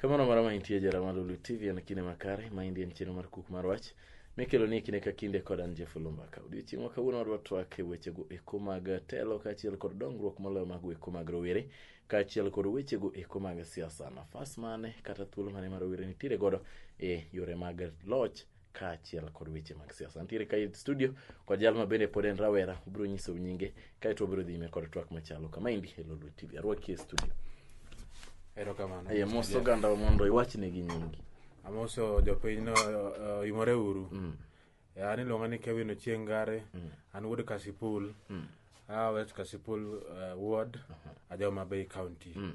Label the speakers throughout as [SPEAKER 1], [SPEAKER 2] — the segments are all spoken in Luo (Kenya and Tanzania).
[SPEAKER 1] Kamano mara ma intie jara ma Lulu TV en kinde makare ma indie en chenro mar kuk mar wach mikelo ni kinde ka kinde kod an Jeff Olumba ka odiochieng' ma kawuono wadwa twak e wechego eko mag telo kaachiel kod dongruok moloyo mag weko mag rowere kaachiel kod wechego eko mag siasa nafas mane kata thuolo mane ma rowere nitiere godo e yore mag loch kaachiel kod weche mag siasa. Antiere kae studio kod jal ma bende pod en rawera, obiro nyiso nyinge kae to obiro dhi nyime kod twak machalo kama endi e Lolwe TV. Arwaki e studio.
[SPEAKER 2] Erokamano. Aye mos Mr. oganda
[SPEAKER 1] mondo iwachne gi nyingi. Amoso
[SPEAKER 2] jopiny no uh, imore uru. Mm. Ya, an iluonga ni Kevin Ochieng Ngare. Mm. An wuod Kasipul. Mm. Ah, West Kasipul uh, ward. Uh-huh. Ajoma Bay County. Mm.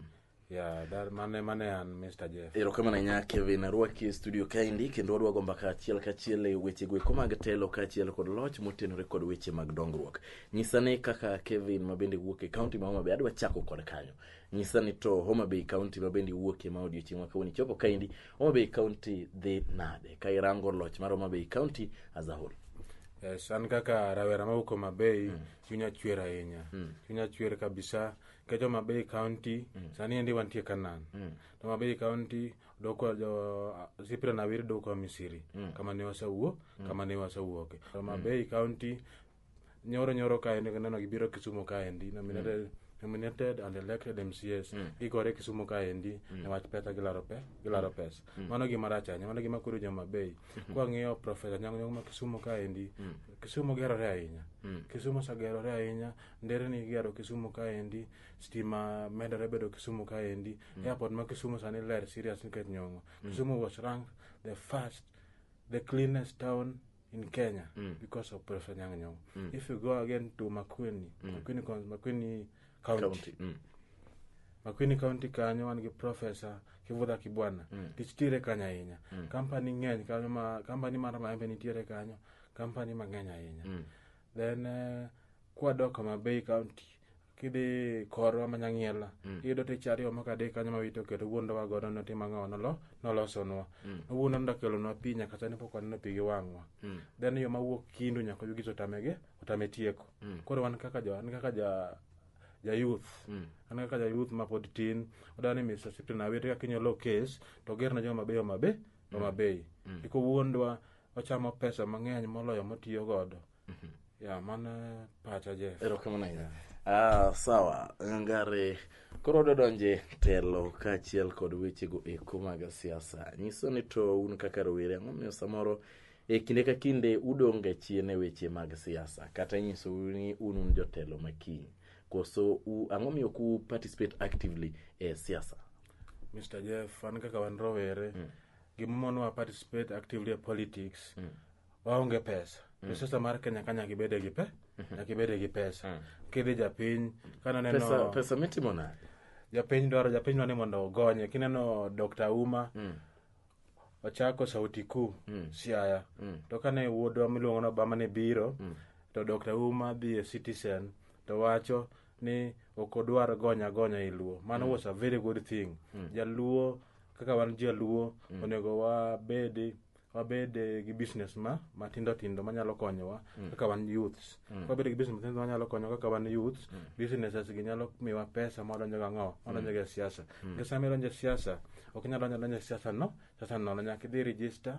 [SPEAKER 2] Yeah, that, mane, mane an Mr. Jeff. erokamano ahinya kevin
[SPEAKER 1] arwaki e studio kaendi kendo wadwa go mbaka achiel kachiel e wechego eko mag telo kaachiel kod loch motenore kod weche mag dongruok nyisa ni kaka kevin ma bende wuok e kaunti ma homabay adwa chako kod kanyo nyisa ni to homabay kaunti ma bende wuokie ma odiochieng' ma kawuono ichopo kaendi homabay kaunti dhi nade ka irango loch mar homabay kaunti as a whole Yes, an kaka
[SPEAKER 2] rawera mawuok Homa Bay, chunya chwer ahinya. Chunya chwer kabisa. kecho ma bay county mm. sani endi wantie kanan mm. to ma bay county doko jo sipira na wir doko misiri mm. kama ne wasawuo mm. kama ne wasawuoke to ma mm. bay county nyoro nyoro ka endi neno gibiro kisumo ka endi nominated mm. nominated and elected mcs mm. gigore kisumo ka endi mm. newach pesa gilaro pe gilaro mm. pesa mm. mano gima rach ahinya mano gima koro joma bei mm. kwa ng'iyo profesa nyang' nyang' ma kisumo ka endi mm. kisumo gerore ahinya mm. kisumo sagerore ahinya nderni igero Kisumu kaendi, stima medore bedo Kisumu kaendi. Mm. Airport ma Kisumu sani ler serious nikech nyong'o. Mm. Kisumu was ranked the first, the cleanest town in Kenya mm. because of Professor Nyang' Nyong'o. Mm. If you go again to Makueni, mm. Makueni, Makueni County, County. Mm. Makueni County kanyo wan gi Professor Kivutha Kibwana. Mm. Tich tire kanyo ahinya. Mm. Company ng'eny kanyo ma, company mar maembe nitiere kanyo, company mang'eny ahinya. Mm. then uh, kwadok Homa Bay County kidhi korwa manyang'iela mm. iyudo tich ariyo moko adek kanyo mawito keto wuondowa godo notima ng'awa nolo nolosonwa mm. nowuondo nodakelonwa pi nyaka sani pok waneno pi gi wang'wa mm. then yo mawuok kindu nyaka yugi otamege otame tieko mm. koro wan kaka jo an kaka ja ja youth mm. an kaka ja youth mapod tin odani Mr. Sipton awete kaka inyalo case to gerna joma beyo mabe mm. mabeyi mm. ikowuondwa mm. ochamo pesa mang'eny moloyo motiyo godo mhm. ya mana pacha je erokamano ahinya
[SPEAKER 1] ah, sawa ngare koro dodonje telo kaachiel kod wechego eko mag siasa nyiso ni to un kaka rowere ang'o miyo samoro e kinde ka kinde udong' ga chien e weche mag siasa kata nyiso ni un un jotelo makiny koso ang'o miyo ku participate actively e siasa mr
[SPEAKER 2] jeff an kaka wan rowere mm. gima monowa participate actively e politics mm. waonge pesa mm. resource mar kenya ka nyaka ibede gi pe mm-hmm. nyaka ibede gi pesa mm. kidhi japiny kanoneno pesa, pesa mitimo nade
[SPEAKER 1] japiny dwaro
[SPEAKER 2] japiny dwaro ni mondo ogonye kineno dr uma mm ochako sauti kuu mm. siaya mm. to kane wuodwa miluongo ni obama ne biro mm. to dr uma dhi e citizen to wacho ni ok odwar gonya gonya e luo mano was a very good thing jaluo kaka wan jaluo onego wabedi wabed eh, gi business ma matindo tindo manyalo konyowa kaka wan youths wabed gi business matindo manyalo konyowa kaka wan youths businesses gi nyalo miwa pesa madonjo ga ng'o madonjo ga e siasa nikech sama idonjo e siasa ok inyal donjo adonja e siasa no siasa nono nyaka idhi register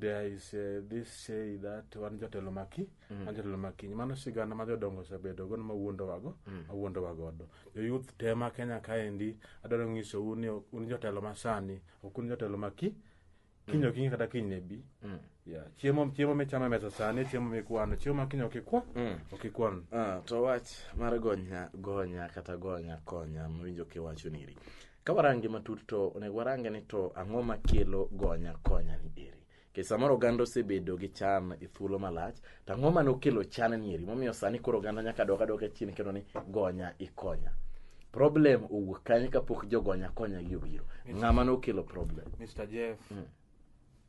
[SPEAKER 2] there is uh, this say that wan jotelo maki mm. wan jotelo makiny mano sigana ma jodongo osebedo gono ma wuondowago mm. ma wuondowa godo joyouth tema kenya kaendi adwaro ng'iso un ni un jotelo masani ok un jotelo maki kiny mm. okinyi kata kiny ne bi mm. yeah. chiemo chiemo michamo e mesa sani chiemo mikwano chiemo ma kiny okikwa mm. okikwan ah, to wach
[SPEAKER 1] mar gonya gonya kata gonya konya mawinjo kiwacho niri Ka warange matut to onego warange ni to ang'o makelo gonya konya ni eri. Nikech samoro oganda osebedo gi chan e thuolo malach, to ang'o mane okelo chan ni eri? Momiyo sani koro oganda nyaka dok adoka chien kendo ni gonya ikonya. Problem owuok kanye kapok jogonya konya gi obiro? Ng'ama nokelo problem?
[SPEAKER 2] Mr. Jeff,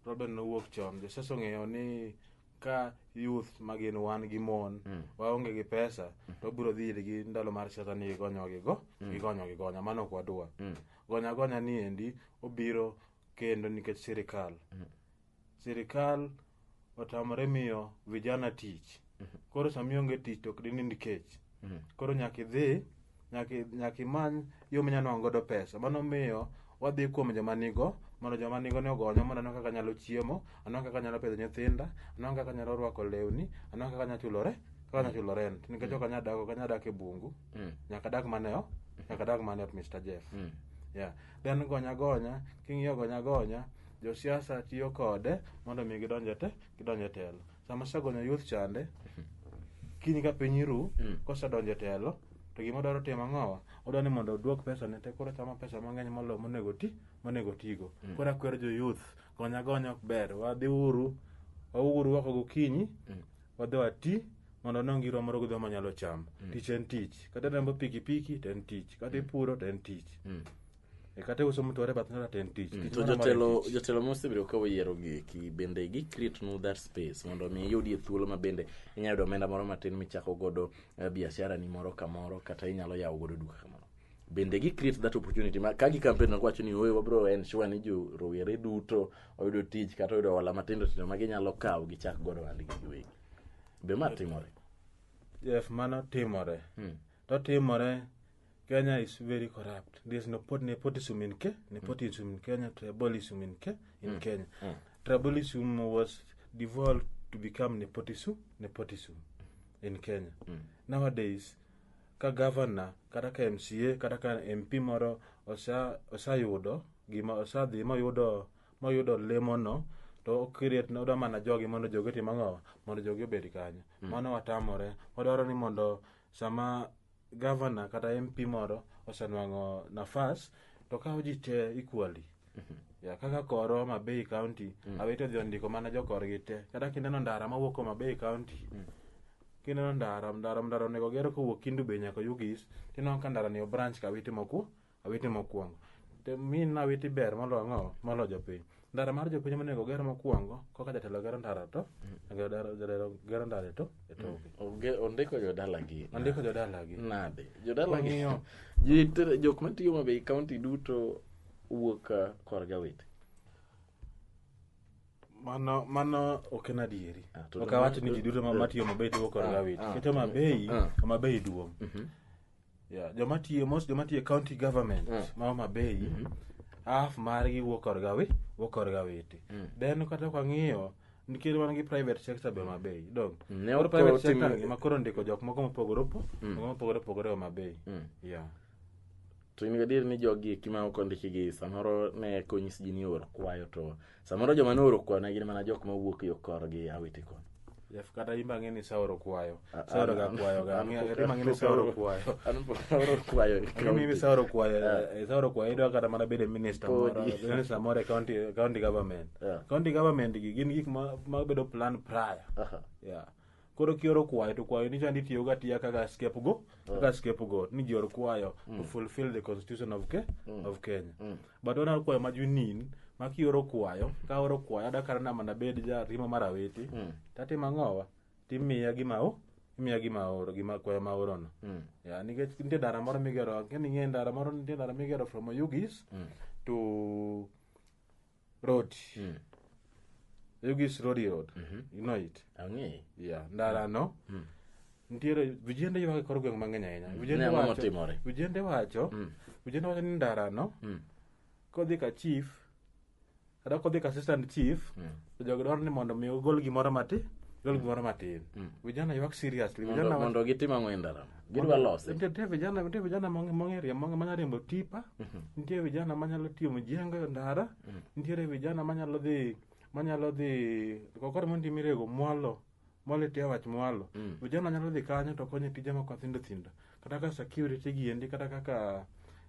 [SPEAKER 2] problem nowuok chon. Josiasa ong'eyo ni ka youth ma gin wan gi mon mm. waonge gi pesa mm. to biro dhi irgi ndalo mar siasa ni igonyo gigo mm. igonyo gigonya mano ok wadwa mm. gonya gonya ni endi obiro kendo nikech sirikal mm. sirikal otamore miyo vijana tich mm-hmm. koro sami onge tich to ok dinind kech mm-hmm. koro nyaka idhi nyaka i- nyaka imany yo minyalo nwang'o godo pesa mano miyo wadhi kuom joma nigo mondo joma nigo ni ogonya mondo anwa kaka anyalo chiemo anwa kaka anyalo pidho nyithinda anwa kaka anyalo rwako lewni anwa kaka anyalo chulore kaka anyalo chulo rent nikech ok anyal dak ok anyal dak e bungu Mm. nyaka dak maneo nyaka dak maneo Mr Jeff Mm. yeah then gonya gonya king'iyo gonya gonya josiasa tiyo kode mondo mi gidonje te gidonje telo sama segonyo youth chande kiny ka piny iru Mm. kosedonjo e telo to gima odwaro timo ang'owa odwa ni mondo oduok pesa ne te koro chamo pesa mang'eny molo monego ti monego tigo Mm. koro akwero jo youth gonya gonya ok ber wadhi uru wauru wako gokinyi Mm. wadhi wati mondo ne ngirwa moro gidwa manyalo chamo Mm. tich en tich kata riembo pikipiki to en tich kata ipuro to en tich Mm. E kata uso mtu ware bath ng'ato to en tich. Tich To moro amora en jotelo tich.
[SPEAKER 1] jotelo mosebedo ka oyiero gi eki bende gi create nu that space mondo mi iyudie thuolo ma bende inyalo yudo omenda moro matin michako godo eh, biashara ni moro kamoro kata inyalo yawo godo duka kamoro. Bende gi create that opportunity ma ka gi campaign na kwacho ni oye wabro ensure ni jo rowere duto oyudo tich kata oyudo hola matindo tindo ma ginyalo kawo gichak godo ohandgi giwegi. Be ma timore? Yes,
[SPEAKER 2] mano timore. Hmm. To timore Kenya is very corrupt. There's nepot nepotism in Kenya. Nepotism in Kenya. Tribalism in Kenya. In Kenya, tribalism was devolved to become nepotism. Nepotism in Kenya. Nowadays, ka governor kata ka MCA kata ka MP moro osa osayudo gima osadhi moyudo moyudo lemono to okiriet ne odwa mana jogi mondo jogi otim ang'o mondo jogi obed kanyo mano watamore wadwaro ni mondo sama gavana kata MP moro osenwang'o nafas to kawo ji te equally ya kaka koro Homa Bay County awete odhi ondiko mana jokorgi te kata kineno ndara mawuok Homa Bay County kineno ndara ndara ndara onego ger kowuok Kindu Bay nyaka Ugis tineno ka ndarani obranch kawiti moku awete mokwongo Te- min na awete ber molo ang'o molo jopiny ndara mar jopiny monego oger mokwongo koka jatelo gero ndara to jagero ndara- jatelo gero ndara to e toke Oge- ondiko
[SPEAKER 1] jodalagi ondiko jodalagi nade jodalagi Wang'iyo.
[SPEAKER 2] Ji te-
[SPEAKER 1] jok matiyo mabei kaunti duto wuok ah, kor jawete
[SPEAKER 2] mano mano ok en adieri Ah, to ok dong- awach ni ji duto ma- matiyo mabei tiyo kod Ah, gawit ah, keto mabei ah. mabei duong' Yeah, joma tiyo most joma tiyo e county government mm. ma Homa Bay mm -hmm. half margi wuok korga wi wuok korga witi mm. then kata kwa ng'iyo nikech wan gi private sector be Homa Bay dog mm. koro private sector tim... ma koro ndiko jok moko mopogore opo mm. mopogore opogore Homa Bay mm. yeah
[SPEAKER 1] to in gadier ni jogi eki ma ok ondiki gi samoro ne konyis ji ni or kwayo to samoro joma nooro kwayo ne gin mana jok ma wuok yo korgi awiti kono Jeff, kata in bang'e
[SPEAKER 2] ni saoro kwayo A- a- saoro ga an- kwayo ga an- Ang'e- an- bang'e ni saoro kwayo an pok aoro kwayo e Ang'e ni county. saoro kwayo eh, saoro kwayo idwa kata mana bedo minister moro Podi. bedo ni samoro e county county government Yeah. county government gi gin gik ma ma bedo plan prior Aha. yeah koro kioro kwayo to kwayo ni chandi tiyoga tiya kaka scapegoat kaka scapegoat ni jior kwayo to fulfill the constitution of, Ke of kenya but ona kwayo ma junin ma kioro kwayo ka oro kwayo ada kara nama nabed ja rima mar awiti tatimo ang'owa timiya gima o imiya gima oro gima kwayo ma orono ya nikech nitie ndara moro migero keni ng'e ndara moro nitie ndara migero from oyugis to road Mm. yugis rodi road you know it Ang'e. yeah
[SPEAKER 1] ndara no
[SPEAKER 2] nitiere vijende ywak e kor gweng' mang'eny ahinya Ne vijende ang'o wacho motimore? vijende wacho Mm. vijende wacho ni ndara no Mm. kodhi ka chief kata kodhi ka assistant chief Mm. to jogo dwaro ni mondo mi ogol gimoro matin gol gimoro matin vijana ywak seriously Mondo vijana wacho mondo gitim ang'o
[SPEAKER 1] e ndarano? gidwa lose nitie vijana nitie vijana
[SPEAKER 2] mong'eria manya riembo tipa mhm. nitie vijana manyalo tiyo mjengo e ndara mhm. nitiere vijana manyalo dhi manyalo dhi kokore mondo imirego mwalo mwalo itiya wach mwalo mm. vijana nyalo dhi kanyo to konyo tije moko thindo thindo kata kaka security giendi kata kaka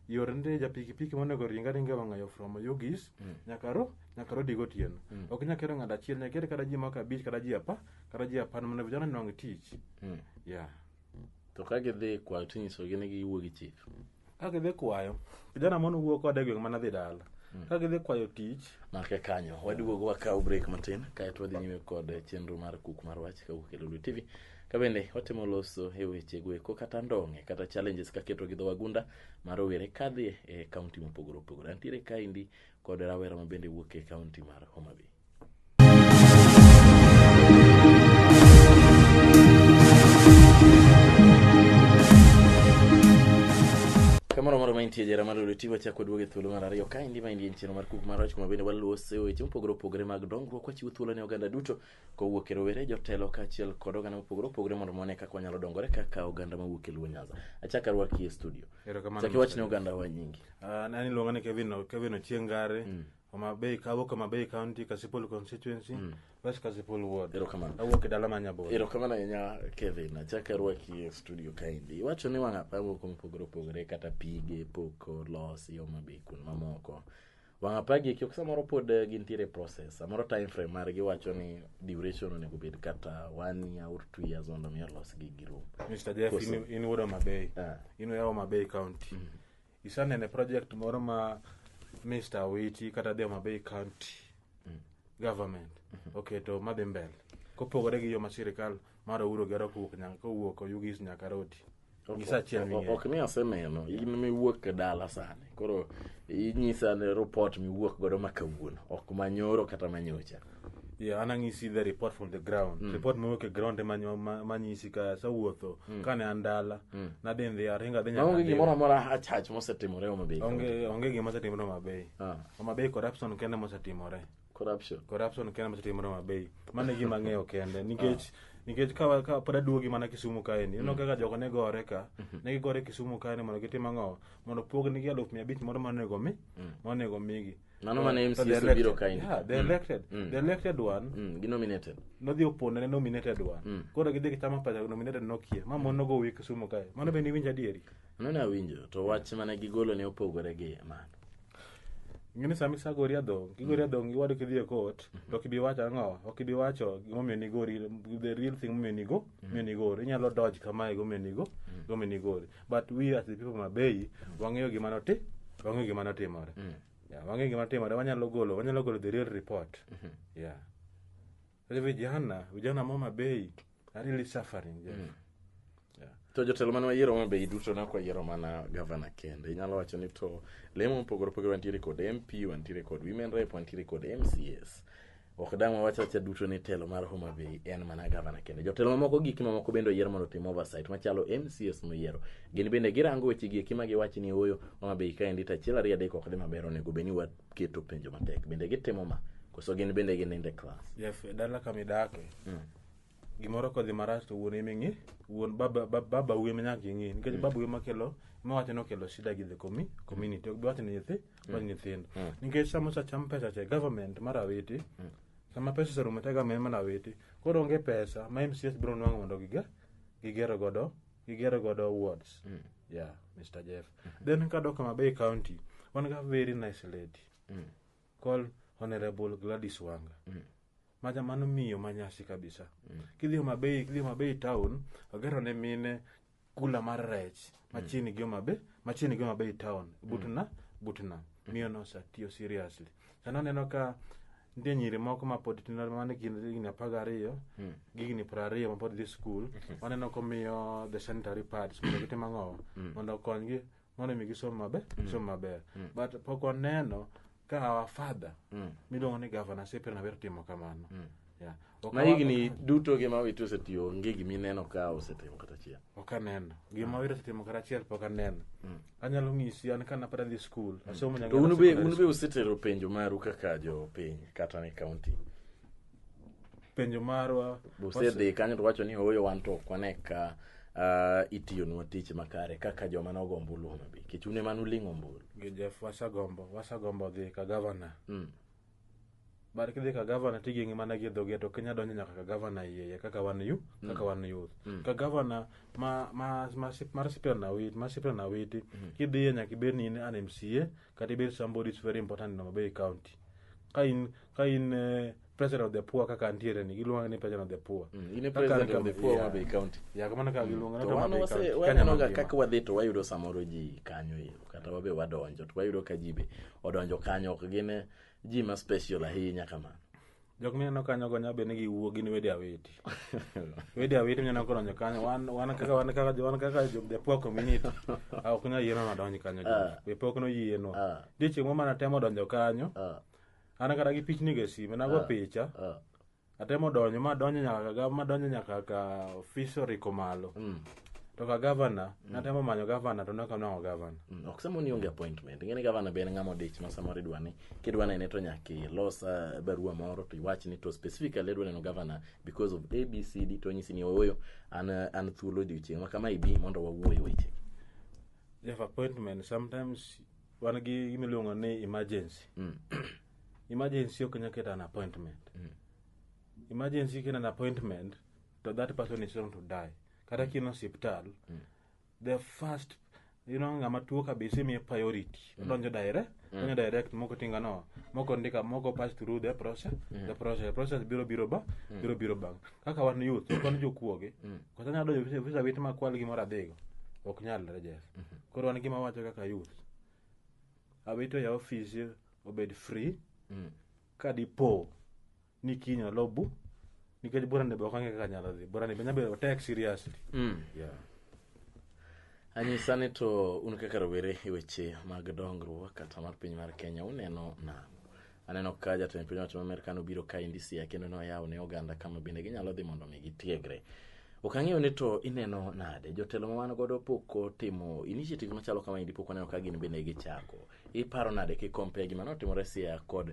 [SPEAKER 2] yore nde ja pikipiki monego ringa ringa wang'ayo from yugis mm. nyaka ro nyaka ro digo tieno mm. ok nyaka ero ng'ada achiel nyaka ero kata ji moko abich kata ji apa kata ji apan mondo vijana nong tich mm. yeah
[SPEAKER 1] to ka gidhi kwayo tinyisogi ni giwuo
[SPEAKER 2] gi
[SPEAKER 1] chif
[SPEAKER 2] ka gidhi kwayo kijana
[SPEAKER 1] mane
[SPEAKER 2] wuo kode gweng'
[SPEAKER 1] mana
[SPEAKER 2] dhi
[SPEAKER 1] dala
[SPEAKER 2] hmm. ka gidhi kwayo tich make kanyo
[SPEAKER 1] waduogo wakaw break matin kaeto wadhi nyime kod chenro mar kuk mar wach kawuok e lulu tv kabende watimo loso e weche goeko kata ndong'e kata challenges kaketo gi dho wagunda ma rowere kadhi e kaunti mopogore opogore antiere kaendi kod rawera mabende wuok e kaunti mar homabay kamoro moro mantie jera mar lweti wachako duogo e thuolo mar ariyo ka endi ma endi en chenro mar kuk mar wach kuma bende waluwo se weche mopogore opogore mag dongruok wachiwo thuolo ne oganda duto kowuok e rowere jotelo kaachiel kod oganda mopogore opogore mondo mone kaka wanyalo dongore kaka oganda mawuok e luo nyanza achaka rwaki e studio Erokamano chaki wach ne machwere. oganda wa nyingi Ah, nani luonga ni kevin
[SPEAKER 2] O- kevin ochieng gare Homa Bay ka awuok Homa Bay County, Kasipul constituency, West Kasipul ward. Erokamano. Awuok e dala ma
[SPEAKER 1] Nyaboro.
[SPEAKER 2] erokamano ahinya
[SPEAKER 1] kevin achak arwaki e studio kaendi iwacho ni wang' apaya moko mopogore opogore kata pige pok olosi homa bay kun mamoko wang' apaya gi eki ok samoro pod eh, gintiere process samoro time frame margi wacho ni duration onego bed kata one year or two years mondo mi olosgi girum Mr. Jeff, Koso- in,
[SPEAKER 2] in wuod Homa Bay. Ah. In wuod Homa Bay County. isanene project moro ma mr awiti kata the mabei county mm. government mm-hmm. oketo okay, madhi mbele kopogore gi yo ma sirikal mar ouro gero kowuok nyaka kowuok oyugis nyaka rodi
[SPEAKER 1] ok ni aseneno in miwuok e dala sani koro inyisa ne report miwuok godo ma kawuono ok manyoro kata manyocha Yeah, anang'isi
[SPEAKER 2] the report from the ground mm. report mowuok e ground ema nyo- ma- manyisi ka asewuotho mm. kane an dala mm. nadhi ndhi aringo adhi nyaka maonge Ndhiwa. gimoro amora achach
[SPEAKER 1] mosetimore Homa Bay County. onge onge gima osetimore
[SPEAKER 2] Homa Bay Ah, Homa Bay corruption kende mosetimore corruption corruption kende mosetimore Homa Bay mano e gima ang'eyo kende nikech nikech ka ka pod aduogi mana Kisumu kaeni ineno kaka jogo ne gore ka ne gigore Kisumu kaeni mondo gitim ang'o mondo pognigi aluf mia abich moro monego mi monego migi Mano mane Eh, to MCA they're sobiro
[SPEAKER 1] elected. kaendi. Yeah, they're Mm. elected. Mm.
[SPEAKER 2] The elected one Mm, gi nominated.
[SPEAKER 1] nodhi opone ne
[SPEAKER 2] nominated one. Mm. Koro gidhi gichamo pesa nominated nokie. Ma mon nogo wiye Kisumu kae. Mano be niwinjo adieri. Mano ne awinjo
[SPEAKER 1] to wach mane gigolo ne opogore gi mano.
[SPEAKER 2] Ng'eni sama isagori adhong, kigori adhong iwado kidhi e court, to ok ibi wacho ang'o? Ok ibi wacho gimomiyo nigori, the real thing momiyo nigo, momiyo nigori. Inyalo dodge kamae gomiyo nigo, gomiyo nigori. but we as the people mabei wang'eyo gima noti wang'eyo gima notimore yeah, wang'eyo gima notimore wanyalo golo wanyalo golo the real report yeah sasa vijana vijana mo mabei are really suffering Jeff. yeah.
[SPEAKER 1] to jotelo mane wayiero ma bei duto ne ok wayiero mana gavana kende inyalo wacho ni to lemo mopogore opogore wantiere kod mp wantiere kod women rep wantiere kod mcs ok dang' wawach awacha duto ni telo mar Homa Bay en mana gavana kende. Jotelo mamoko gik mamoko bende oyier mondo otim oversight machalo MCS moyiero. Gin bende girango weche gi eki ma giwach ni ooyo Homa Bay ka endi to achiel ariyo adek ok dhi maber onego bed ni waketo penjo matek. Bende gitimo ma koso gin bende ginindo e klas. Jeff, e dala kama
[SPEAKER 2] idake Mm. gimoro kodhi marach to wuon ema ing'e wuon baba ba- baba wuon ema nyaka ing'e nikech baba wuon makelo mawacho ni okelo shida gi the commi- community ok biwacho ni nyithi mag nyithindo nikech sama osacham pesa cha e government mar awiti sama pesa oserumo te government mar awiti koro onge pesa ma mcs biro nwang'o mondo giga gigero godo gigero godo wards yeah mr jeff then kadok Homa Bay county wan ga very nice lady called honorable gladys wanga maja mano miyo manyasi kabisa kidhi Homa Bay kidhi Homa Bay town ogero ne mine kula mar rech machiegni gi Homa Bay machiegni gi Homa Bay town but na but na miyo no osatiyo seriously sani aneno ka nitie nyiri moko ma pod tindo mane kind higni apar gariyo gi higni piero ariyo mapod dhi skul waneno komiyo the sanitary pads mondo gitim ang'owa mondo okonygi mondo mi gisom maber gisom maber but pok waneno ka our father miluongo ni gavana sepe naber timo kamano Yeah. Ok ma awa-
[SPEAKER 1] higni duto gi ma wito osetiyo onge gima ineno ka osetimo kata achiel ok aneno
[SPEAKER 2] gima wiro setimo kata achiel pok aneno anyalo ng'isi an kana pod adhi skul asomo to Nyangera un be Secondary un be School. usetero
[SPEAKER 1] penjo maru kaka jopiny kata ni kaunti
[SPEAKER 2] penjo marwa usedhi kanyo to
[SPEAKER 1] wacho ni ooyo wan to ok wane ka ah, itiyonwa tich makare kaka joma nogo ombulu Homa Bay nikech un ema nuling' ombulu gi Jeff wasegombo
[SPEAKER 2] wasegombo dhi ka gavana Mm. bar kidhi ka gavana tigengi mana gi dhoge to kinya donjo nyaka ka gavana iye kaka wan yu kaka wan youth ka gavana ma ma ma sip- mar sipra na wit mar sipra na witi kidhiye nyaka ibed ni in an MCA kata ibed somebody is very important in Homabay County ka in ka in eh, president of the poor kaka antiere ni giluonga ni president of the poor Mm, in a Kaka president ni of the kama-
[SPEAKER 1] poor yeah. Homabay County. ya kamano kaka giluonga
[SPEAKER 2] to wan wase-
[SPEAKER 1] wanenoga kaka wadhi to wayudo samoro ji kanyo ero kata wabe wadonjo to wayudo ka ji be odonjo kanyo ok gin eh, ji ma special ahinya kamano jok mineno
[SPEAKER 2] kanyo go nyabe ni giwuo gin wede awiti wede awiti mineno kodonjo kanyo wan wan kaka wan kaka wan kaka jo the poor community ah, ok nyal yienwa madonj kanyo Ah. be pok noyienwa Ah. dichieng' moro mana temo donjo kanyo Ah, an kata gi pichni go e sime nago picha ah, atemo donjo ma donjo nyaka ga ma donjo nyaka ka fishery komalo to ka gavana natemo manyo gavana to naka nwango gavana Mm, ok sama ni onge
[SPEAKER 1] appointment ing'e ni gavana be en ng'ama odich ma samoro idwa ni kidwa nene to nyaka ilos ah, barua moro to iwach ni to specifically adwa neno gavana because of abcd to onyisi ni ooyo an ah, an thuolo odiochieng' ma kama ibi mondo wawuo e weche jeff
[SPEAKER 2] appointment sometimes wan gi gima iluongo ni emergency Mm. emergency ok nyaka keta an appointment emergency kena an appointment to that person is going to die kata kino osiptal the first you know ng'ama tuo kabisa imiye priority odonjo direct donjo direct moko tinga no moko ndika moko pass through the process the process the process biro biro ba biro biro bang kaka wan youth wan jokuoge kata nyalo donjo visa- visa wit ma kwal gimoro adhigo ok nyal rejes koro wan gima wacho kaka youth awito ya office obed free ka dipo ni kiny olo bu nikech bura ni be ok ang'e kaka nyalo dhi bura ni be nyabedo otek seriously Mm. yeah.
[SPEAKER 1] anyisa ni to un kaka rowere e weche mag dongruok kata mar piny mar kenya uneno nang'o aneno ka jatend piny owacho ma amerka nobiro ka endi siaya kendo noyawo ne oganda kama bende ginyalo dhi mondo mi gitiegre ok ang'eyo ni to ineno nade jotelo ma wan godo pok otimo initiative machalo kama endi pok waneno ka gin bende gichako iparo nade kikompea gima notimore siaya kod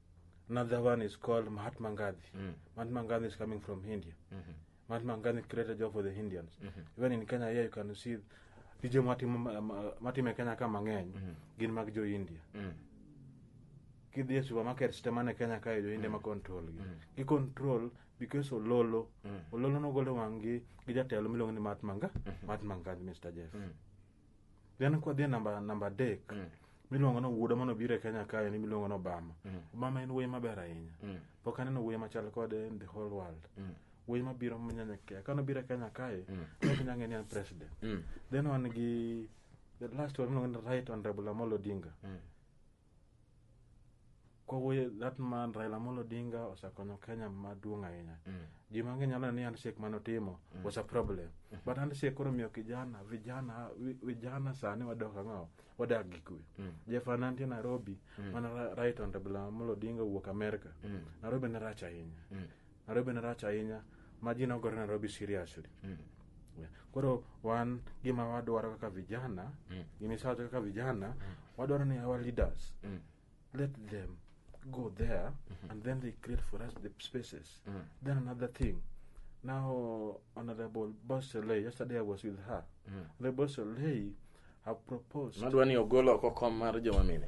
[SPEAKER 2] Another one is called Mahatma Gandhi. Mm. Mahatma Gandhi is coming from India. Mm-hmm. Mahatma Gandhi created job for the Indians. Mm-hmm. Even in Kenya here you can see tije matimo ma- ma- matime Kenya ka mang'eny Mhm. gin mag jo India. Mm. Kidhi e supermarket te mane Kenya kae jo India ma control gi. Mm. Gi control because Ololo. Mm. Ololo nogolo wang'gi gi jatelo miluongo ni Mahatma Ga- Mahatma Gandhi Mr. Jeff. Mm. then kwadhi e namba namba adek mm. miluongo ni wuoda mano biro e kenya kae ni miluongo ni obama mm. obama en wuoyi maber ahinya mm. pok aneno wuoyi machal kode in the whole world mm. wuoyi mabiro manyanyakia kano biro e kenya kae mm. nokinya ng'e ni an president mm. then wan gi the last one miluongo ni right honorable amolo odinga mm. kowuoye that man Raila Amolo Odinga osekonyo Kenya maduong' ahinya. Mm. Ji mang'eny nyalo ni handshake mane otimo mm. was a problem. Mm. But handshake koro miyo kijana vijana vijana sani wadok ang'o wadak gi kwe. Mm. Jeff Ananti Nairobi mm. mana right on Raila Amolo Odinga wuok America. Mm. Nairobi ne rach ahinya. Mm. Nairobi ne rach ahinya ma ji nogore Nairobi seriously. Mm. Yeah. Koro wan gima wadwaro kaka vijana, Mm. gima isawacho kaka vijana, wadwaro ni our leaders Mm. let them go there and then they create for us the spaces. Mm. Then another thing. Now Honorable Boseley, yesterday I was with her. Mm. The Boseley have proposed Unadwa ni ogolo oko
[SPEAKER 1] kom mar joma mine.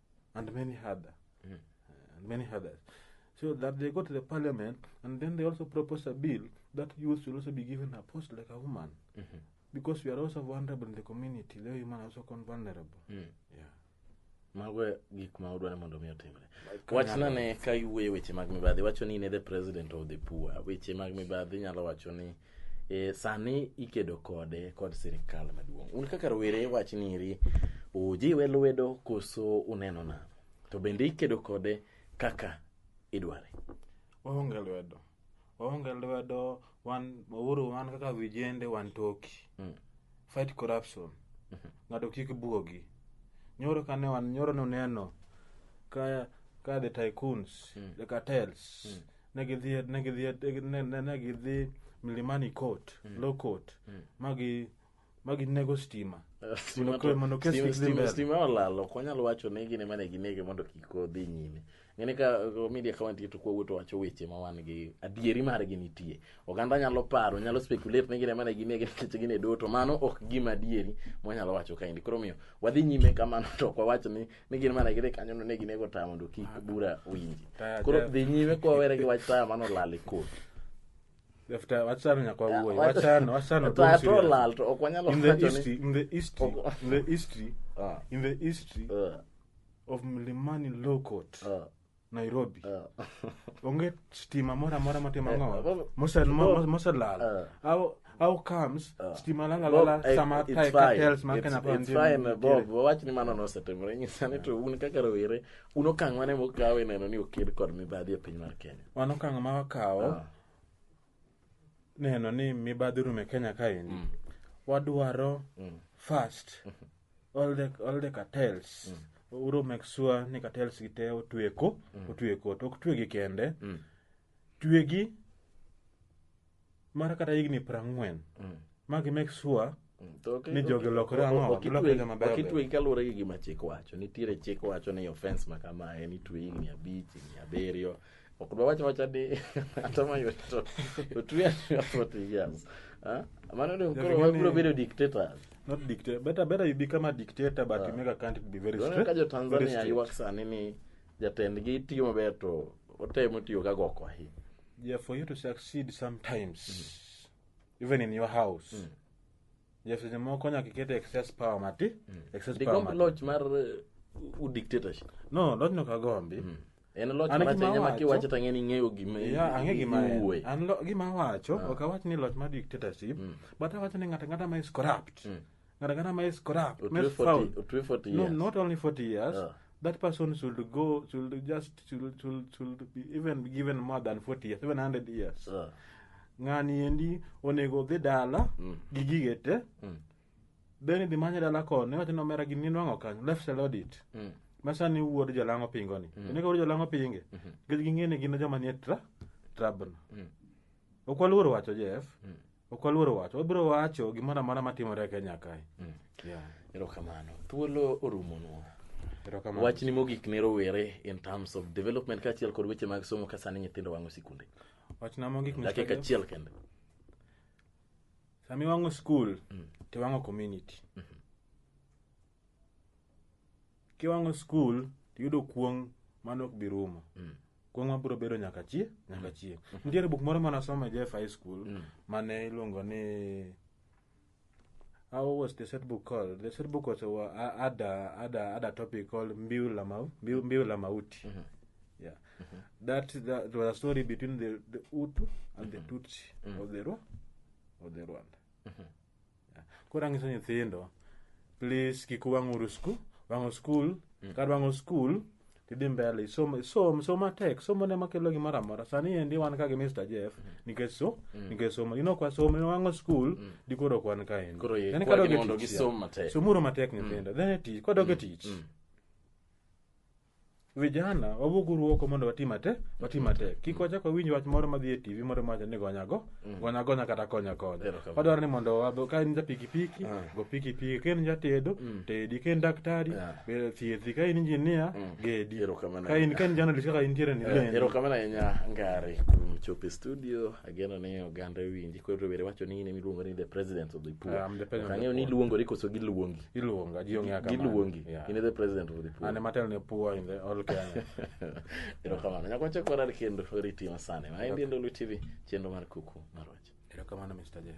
[SPEAKER 2] and many other, mm. uh, and many others. So that they go to the parliament, and then they also propose a bill that youth should also be given a post like a woman, mm -hmm. because we are also vulnerable in the community. The women are also vulnerable. Mm. Yeah.
[SPEAKER 1] mago e gik ma udwaro mondo mi otimre wachna ne ka iwuoye weche mag mibadhi wacho ni ne the president of the poor weche mag mibadhi nyalo wacho ni e, sani ikedo kode kod sirikal maduong' un kaka rowere wach niri ujiwe lwedo koso uneno nano to bende ikedo kode kaka idware waonge
[SPEAKER 2] lwedo waonge lwedo wan wauru wan kaka vijende wan toki Mm. fight corruption ng'ato kik buogi nyoro kane wan nyoro noneno ka ka the tycoons the cartels ne gidhi ne gidhi ne, ne, ne gidhi milimani court mm. low court mm. magi magi nego stima Stima Mondo to- kwe- mondo kes stima- kik dhi stima- mbele.
[SPEAKER 1] stima olalo ok wanyal wacho ni gine mane ginege mondo kik odhi nyime ng'ene ka uh, media ka wantie to kwawuo to wacho weche ma wan gi adieri margi nitie oganda nyalo paro nyalo speculate ni gine mane ginege nikech gine do to mano ok gima adieri mwanyalo wacho kaendi koro omiyo wadhi nyime kamano to ok wawach ni ni gin mana gire kanyo ne ginego taya mondo kik ah. bura winji koro dhi nyime kwa were gi wach taya mano lal e kot
[SPEAKER 2] after wachano nyaka wawuoyo wachano wachano taya to lal
[SPEAKER 1] to ok wanyalo in the history in the
[SPEAKER 2] history in the history ah. in the history ah. of Milimani Law Court Nairobi. Eh. Onge stima mora mora matimo eh, ng'o. Mosel mosel lal. Eh. How how comes stima lala lala sama tai cartels ma kana pa ndio. Fine Bob,
[SPEAKER 1] wach ni mano nosetimore nyisa ni to un kaka rowere un okang' mane mukawo ineno ni oked kod mibadhi e piny mar Kenya. Wan okang' ma wakawo
[SPEAKER 2] ah. neno ni mibadhi rume kenya kaendi mm. wadwaro mm. first mm-hmm. all the, all the cartels mm. uro make sure ni cartels gi te otwe ko mm. otwe ko to ok twegi kende mm. twegi mar kata higni prang'wen mm. ma gi make sure Mm, to ok- Ni jogi ok- olokore ang'o? ok itwe- Olokore joma beyo ok itwe
[SPEAKER 1] kaluwore gi gima chik wacho nitiere chik wacho ni offense ma kama en itwe higni abich higni abiriyo ok dwa wacho wacha ni ata ma yot to otwe ata forty years Ah, mano ni koro Jogini- wabiro bedo dictators not dictator better
[SPEAKER 2] better you become a dictator but you make a country to be very Unaona straight ka jo very Tanzania straight. ywak
[SPEAKER 1] sani ni jatendgi tiyo maber to otemo tiyo ka goko ahinya yeah for you to
[SPEAKER 2] succeed sometimes even in your house mm. yes seche moko nyaka iket excess power mati mm. excess power digomb mati loch mar uh,
[SPEAKER 1] u dictatorship no loch no
[SPEAKER 2] kagombi mm. en loch An marach
[SPEAKER 1] gima ahinya ma awacho- kiwacho to ang'e ni ing'eyo gima Yeah, ang'e gima en. iwuoye.
[SPEAKER 2] An lo- gima awacho Ah. ok awach ni loch mar dictatorship Mm. but awacho ni ng'ato ang'ata ma is corrupt Mm. ng'ato ang'ata ma is corrupt ma Otwe is 40 foul otwe 40 no years. not only 40 years Ah. that person should go should just should, should, should be even be given more than 40 years even 100 years Ah. ng'ani endi onego dhi dala Mm. gi gige te Mm. then idhi manye dala koni wacho ni omera gini nwang'o kanyo left sell audit Mm. ma sani wuod jalang'o pingoni Mm. onego wuod jalang'o pinge Mhm. nikech ging'e ni gin joma nie tra trabno Mm. ok waluor wacho jeff Mm. ok waluoro wacho wabiro wacho gimoro amora matimore e kenya kae mm. yeah.
[SPEAKER 1] erokamano thuolo orumonwa wach ni mogik ne rowere in terms of development kaachiel kod weche mag somo ka sani nyithindo wang'o sikunde wachna mogik
[SPEAKER 2] dakika achiel kende sami wang'o skul mm. to wang'o community mm -hmm. kiwang'o skul tiyudo kuong' mano ok bi rumo mm. kuong' mabiro bedo nyaka chi nyaka mm. chieng' mm. nitiere buk moro mane asomo e jf high school mane iluongo ni how was the set book called the set book was a, ada ada ada topic called mbiu la mau mbiu, mbiu la mauti mm -hmm. yeah mm -hmm. that that was a story between the, the utu and mm -hmm. the tutsi mm -hmm. of the of the rwanda mm -hmm. koro ang'iso nyithindo please kik wang'uru skul wang'o skul mm. kar wang'o skul tidhi mbele isom isom som matek somo ne makelo gimoro amora sani endi wan ka gi Mr Jeff mm. nikech so mm. nikech somo ino kwa somo ino wang'o skul mm. di koro kwan ka endi koro ye kwa mondo gisom
[SPEAKER 1] matek somuru matek nyithindo mm.
[SPEAKER 2] then tich kwa doge mm. tich mm. vijana wawuog uru oko mondo wati mate wati matek kik wachak wawinj wach moro madhi e tv moro mawacho ni gonya go gonya gonya kata konya konya Erokamano. wadwaro ni mondo wadho ka in ja pikipiki Ah. go pikipiki ka in ja tedo tedi ka in daktari Ah. be- thiethi ka in injinia gedi Erokamano. ka in ka in journalist kaka intiere ni lendi. erokamano ahinya
[SPEAKER 1] ngari kuom chopo e studio ageno ni oganda winji koro rowere wacho ni in emiluongo ni the president of the poor I'm the president of the Ang'eyo ni poor. iluongori koso giluongi iluonga ji ong'eya kamano.
[SPEAKER 2] giluongi Yeah. in the
[SPEAKER 1] president of the poor An ema atelo ne poor in the
[SPEAKER 2] all Kenya. erokamano
[SPEAKER 1] nyakwacha kwarar kendo riti masane ma endi ndolo tv chenro mar kuku marwach Erokamano Mr. Jeff.